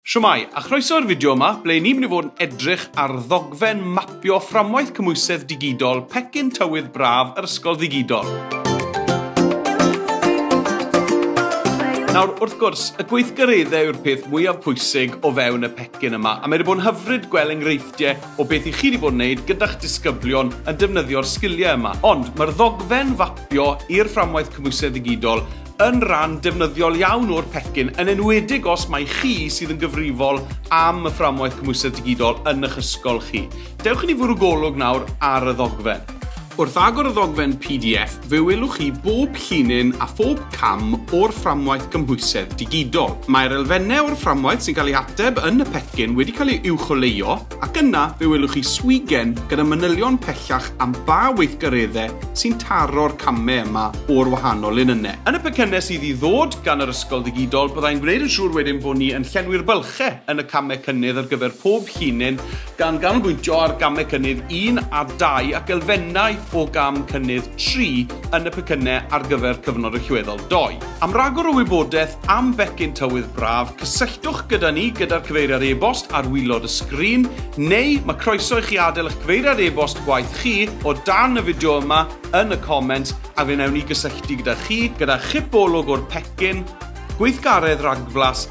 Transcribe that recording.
Shwmae, a chroeso i'r fideo yma, ble ni'n mynd i fod yn edrych ar ddogfen mapio Fframwaith Cymhwysedd Digidol Pecyn Tywydd Braf yr Ysgol Ddigidol. Nawr, wrth gwrs, y gweithgareddau yw'r peth mwyaf pwysig o fewn y pecyn yma, a mae wedi bod yn hyfryd gweld enghreifftiau o beth i chi wedi bod yn gwneud gyda'ch disgyblion yn defnyddio'r sgiliau yma. Ond mae'r ddogfen fapio i'r fframwaith cymwysedd ddigidol yn ran defnyddiol iawn o'r pecyn, yn enwedig os mai chi sydd yn gyfrifol am y fframwaith cymhwysedd digidol yn eich ysgol chi. Dewch i ni fwrw golwg nawr ar y ddogfen. Wrth agor y ddogfen pdf, fe welwch chi bob llinyn a phob cam o'r fframwaith gymhwysedd digidol. Mae'r elfennau o'r fframwaith sy'n cael eu hateb yn y pecyn wedi cael eu uwcholeuo, ac yna fe welwch chi swigen gyda manylion pellach am ba weithgareddau sy'n taro'r camau yma o'r wahanol linynnau. Yn y pecynnau sydd i ddod gan yr ysgol ddigidol, byddai'n gwneud yn siŵr wedyn bod ni yn llenwi'r bylchau yn y camau cynnydd ar gyfer pob llinyn, gan ganolbwyntio ar gamau cynnydd un a dau ac elfennau o gam cynnydd tri yn y pecynnau ar gyfer cyfnod allweddol dou. Am ragor o wybodaeth am becyn tywydd braf, cysylltwch gyda ni gyda'r cyfeiriad e-bost ar waelod y sgrin, neu mae croeso i chi adael eich cyfeiriad e-bost gwaith chi o dan y fideo yma yn y comments a fe wnawn ni gysylltu gyda chi gyda chip olwg o'r pecyn, gweithgaredd rhagflas